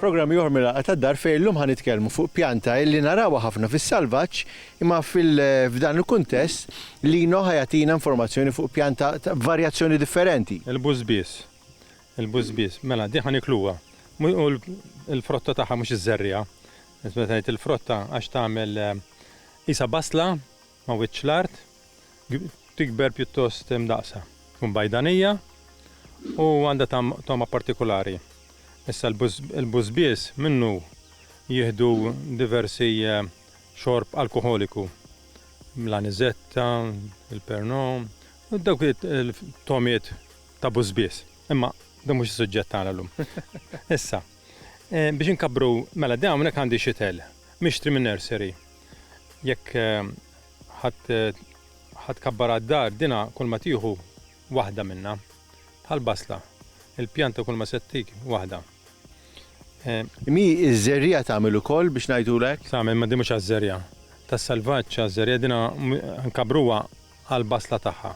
Programm ieħor mill-Għaqda tad-Dar fejn illum ħa nitkellmu fuq pjanta illi narawha ħafna fis-salvaġġ imma f'dan il-kuntest Lino ħa jagħtina informazzjoni fuq pjanta ta' varjazzjoni differenti. Il-bużbież. Il-busbies, mela din ħa nikluha. U l-frotta tagħha mhux iżżerriha. Meta ngħid il-frotta għax tagħmel qisha basla ma' wiċċ l-art, tikber pjuttost imdaqqsa. Tkun bajdanija u għandha tagħm togħma partikulari. Issa l-busbies minnu jieħdu diversi xorb alkoħoliku. L-anizetta, il-pernod, dawk it-togħmiet. ta' bużbież. Imma dan mhux is-suġġett tagħna llum. Issa, biex inkabbru, mela din hawnhekk għandi xitel mixtri min-nursery. Jekk ħa tkabbarha d-dar, dinha kulma tieħu waħda minnha. Bħall-basla. Il-pjanta kulma se ttik waħda. Imma hi ż-żerriegħa tagħmel ukoll biex ngħidulu hekk? Tagħmel, imma din mhux għaż-żerriegħa. Tas-salvaġġ għaż-żerriegħa, dinha nkabbruha għall-basla tagħha.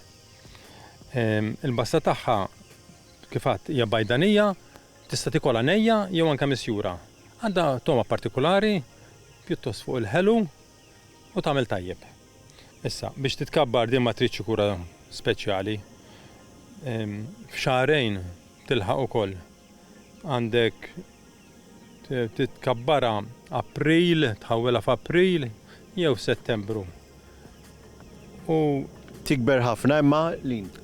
Il-basta tagħha kif għadt hija bajdanija, tista' tikolha nejja jew anke misjura. Għandha togħma partikulari, pjuttost fuq il-ħelu u tagħmel tajjeb. Issa, biex titkabbar din ma tridx kura speċjali. F'xahrejn tilħaq ukoll. għandek titkabbarha April, tħawwilha f'April jew f'Settembru. U Tikber ħafna imma l-int.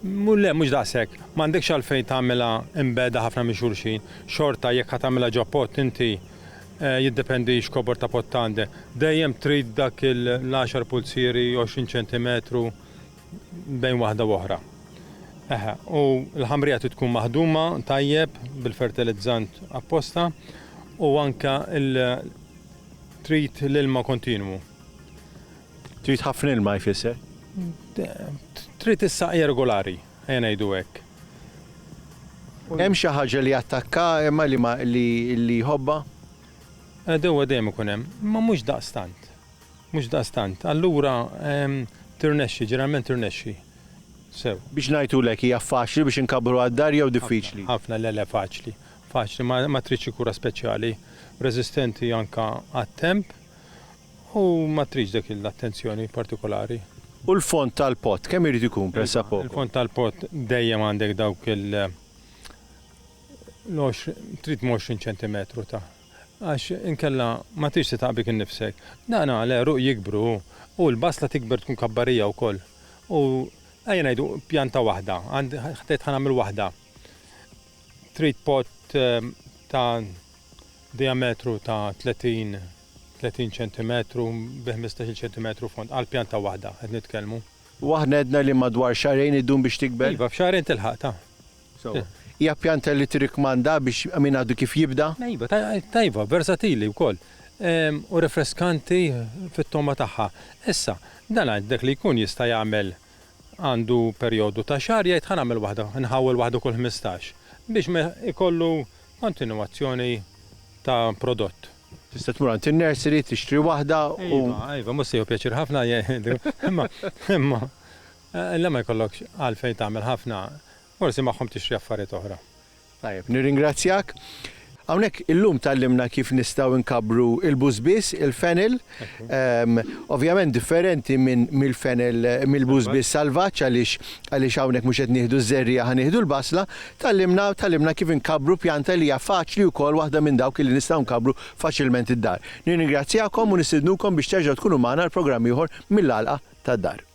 Mu le, mhux daqshekk. M'għandekx għalfejn tagħmilha imbegħda ħafna minn xulxin. Xorta jekk ħa tagħmilha ġo pott inti eh, jiddependi x'kobor ta' pott għandek. Dejjem trid dak il-10 pulzieri, 20 ċentimetru bejn waħda u oħra. Eħe, u l-ħamrija trid tkun maħduma tajjeb bil-fertilizzant apposta u anke trid l-ilma kontinwu. Trid ħafna ilma jfisser? Trid is-saqja regolari, ejja ngħidu hekk. Hemm xi ħaġa li attakka imma li li jħobba? Dewa dejjem ikun hemm, ma mhux daqstant. Mhux daqstant. Allura, tirnexxi, ġeneralment tirnexxi. Sew. Biex ngħidulek, hija faċli biex inkabbruha d-dar jew diffiċli? Ħafna, le le, faċli. Faċli, ma tridx xi kura speċjali. Reżistenti anke għat-temp u ma tridx dak l-attenzjoni partikolari. U l-fond tal-pott, kemm irid ikun pressappoco? Il-fond tal-pott dejjem għandek dawk il-, trid 20 ċentimetru ta'. Għax inkella ma tridx titgħab bik innifsek. Dan għall-għeruq jikbru u l-basla tikber tkun kabbarija wkoll. U ejja ngħidu pjanta waħda, għand ħdejt ħa nagħmel waħda. Trid pot ta' dijametru ta' 30 30 ċentimetru bi ħmistax-il ċentimetru fond, għal pjanta waħda qed nitkellmu. U aħna għedna li madwar xahrejn iddum biex tikber? Iva, f'xahrejn tilħaq ta'. Hija pjanta li tirrikkmanda biex min għadu kif jibda? Iva, tajba, versatili wkoll u rifreskanti fit-togħma tagħha. Issa, dan għidlek li jkun jista' jagħmel għandu perjodu ta' xahar jgħid ħa nagħmel waħda, nħawwel waħda kull ħmistax biex ma jkollu kontinwazzjoni ta' prodott. Tista' tmur għand in-nursery tixtri waħda u. Iva, iva, mhux se jieħu pjaċir ħafna jgħidu, imma, imma. Le ma jkollokx għalfejn tagħmel ħafna, forsi magħhom tixtri affarijiet oħra. Tajjeb, nirringrazzjak. Hawnhekk illum tgħallimna kif nistgħu nkabbru l-busbies, il-fennel. Ovvjament differenti minn mill-fennel mill-busbies salvaġġ għaliex għaliex hawnhekk mhux qed nieħdu ż-żerriegħa ħa nieħdu l-basla. Tgħallimna tgħallimna kif inkabbru pjanta li hija faċli wkoll waħda minn dawk li nistgħu nkabbru faċilment id-dar. Nirringrazzjakom u nistidnukom biex terġgħu tkunu magħna għal programm ieħor mill-għalqa tad-dar.